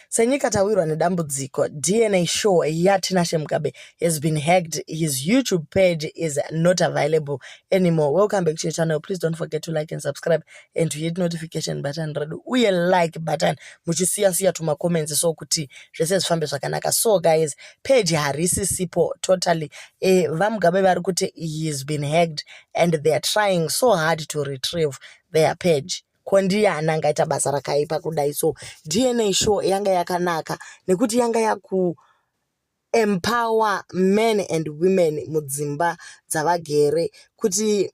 Senyika tawirwa nedambudziko. DNA show yaTinashe Mugabe has been hacked. His YouTube page is not available anymore. Welcome back to your channel. Please don't forget to like and subscribe and to hit notification button redu uye like button muchisiya siya tuma comments so kuti zvese zvifambe zvakanaka. So guys, page harisi sipo totally. Eh, VaMugabe vari kuti he has been hacked and they are trying so hard to retrieve their page. ko ndiyani angaita basa rakaipa kudai so dna show yanga yakanaka nekuti yanga yaku empower men and women mudzimba dzavagere kuti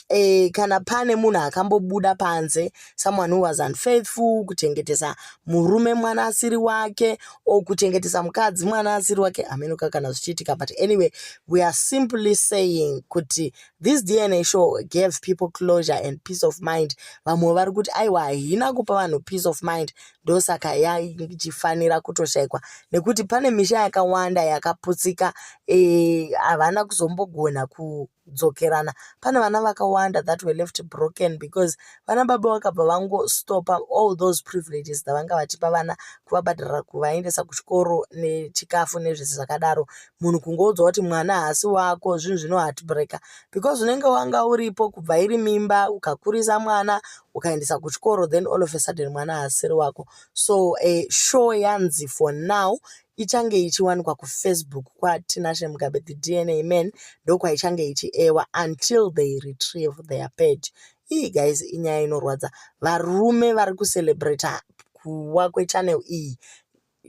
eh, kana pane munhu akambobuda panze someone who was unfaithful kuchengetesa murume mwana asiri wake or kuchengetesa mukadzi mwana asiri wake hamenoka kana zvichiitika but anyway we are simply saying kuti This DNA show gave people closure and peace of mind. Vamwe vari kuti aiwa haina kupa vanhu peace of mind ndosaka yaichifanira kutoshaikwa nekuti pane misha yakawanda yakaputsika eh, havana e, kuzombogona kudzokerana. Pane vana vakawanda that were left broken because vana baba vakabva vangostopa all those privileges dzavanga vachipa vana kuvabhadharira kuvaendesa kuchikoro nechikafu nezvese zvakadaro munhu kungoudza kuti mwana haasi wako zvinhu zvino heartbreaker because unenge wanga uripo kubva iri mimba ukakurisa mwana ukaendesa kuchikoro then all of a sudden mwana haasiri wako so a show yanzi for now ichange ichiwanikwa kufacebook kwatinashe mugabe the dna man ndokwaichange ichiewa until they retrieve their page ii guys inyaya inorwadza varume vari kucelebrata kuwa kwechannel iyi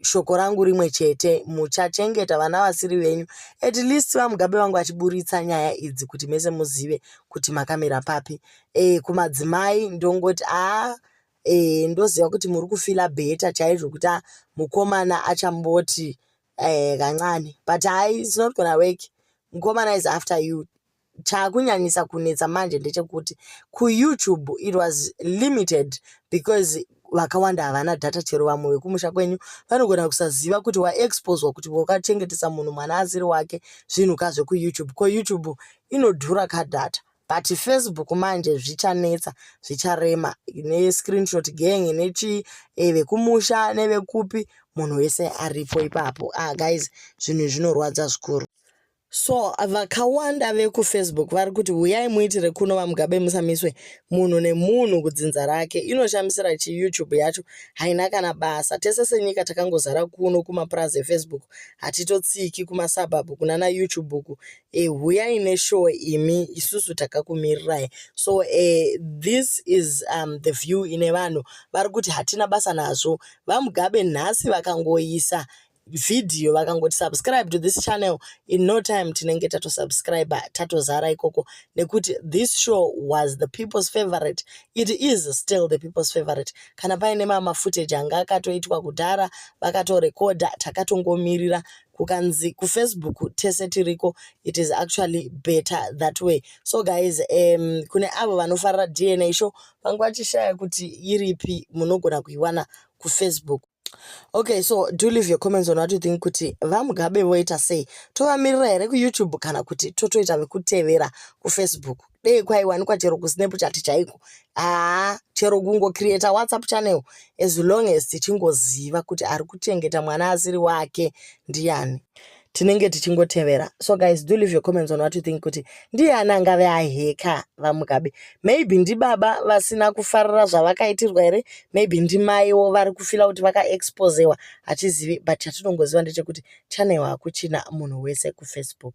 shoko rangu rimwe chete muchachengeta vana vasiri venyu at least vamugabe vangu vachiburitsa nyaya idzi kuti mese muzive kuti makamira papi e, kumadzimai ndongoti aa ah, e, ndoziva kuti muri kufila bheta chaizvo kuti ah, mukomana achamboti e, kancane but hai it's not gonna work mukomana is after you chakunyanyisa kunetsa manje ndechekuti kuyoutube it was limited because vakawanda havana data chero vamwe vekumusha kwenyu vanogona kusaziva kuti waexposwa kuti wakachengetesa munhu mwana asiri wake zvinhu ka zvekuyoutube ko youtube inodhura ka data but facebook manje zvichanetsa zvicharema nescreenshot gang nechi eh, vekumusha nevekupi munhu wese aripo ipapo ah guys zvinhu zvinorwadza zvikuru so vakawanda vekufacebook vari kuti huyai muitire kuno vamugabe musamiswe munhu nemunhu kudzinza rake inoshamisira chi youtube yacho haina kana basa tese senyika takangozara kuno kumapurazi efacebook hatitotsiki kumasabhabhu kuna na youtube uku e, huyai neshow imi isusu takakumirirai so e, this is um, the view ine vanhu vari kuti hatina basa nazvo vamugabe nhasi vakangoisa video vakangoti subscribe to this channel in no time tinenge tatosubscriber tatozara ikoko nekuti this show was the people's favorite it is still the people's favorite kana paine mama footage anga akatoitwa kudhara vakatorekodha takatongomirira kukanzi kufacebook tese tiriko it is actually better that way so guys um, kune avo vanofarira dna show vanga vachishaya kuti iripi munogona kuiwana kufacebook okay so do leave your comments on what you think kuti vamugabe voita sei tovamirira here kuyoutube kana kuti totoita vekutevera kufacebook dei kwaiwanikwa chero kusnapchat chaiko haa chero kungocreata whatsapp channel as long as tichingoziva kuti ari kuchengeta mwana asiri wake ndiyani yeah. tinenge tichingotevera so guys do leave your comments on what you think kuti ndiye ani angave aheka vamugabe maybe ndibaba vasina kufarira zvavakaitirwa here maybe ndimaiwo vari kufila kuti vakaexposewa hatizivi but chatinongoziva ndechekuti channel hakuchina munhu wese kufacebook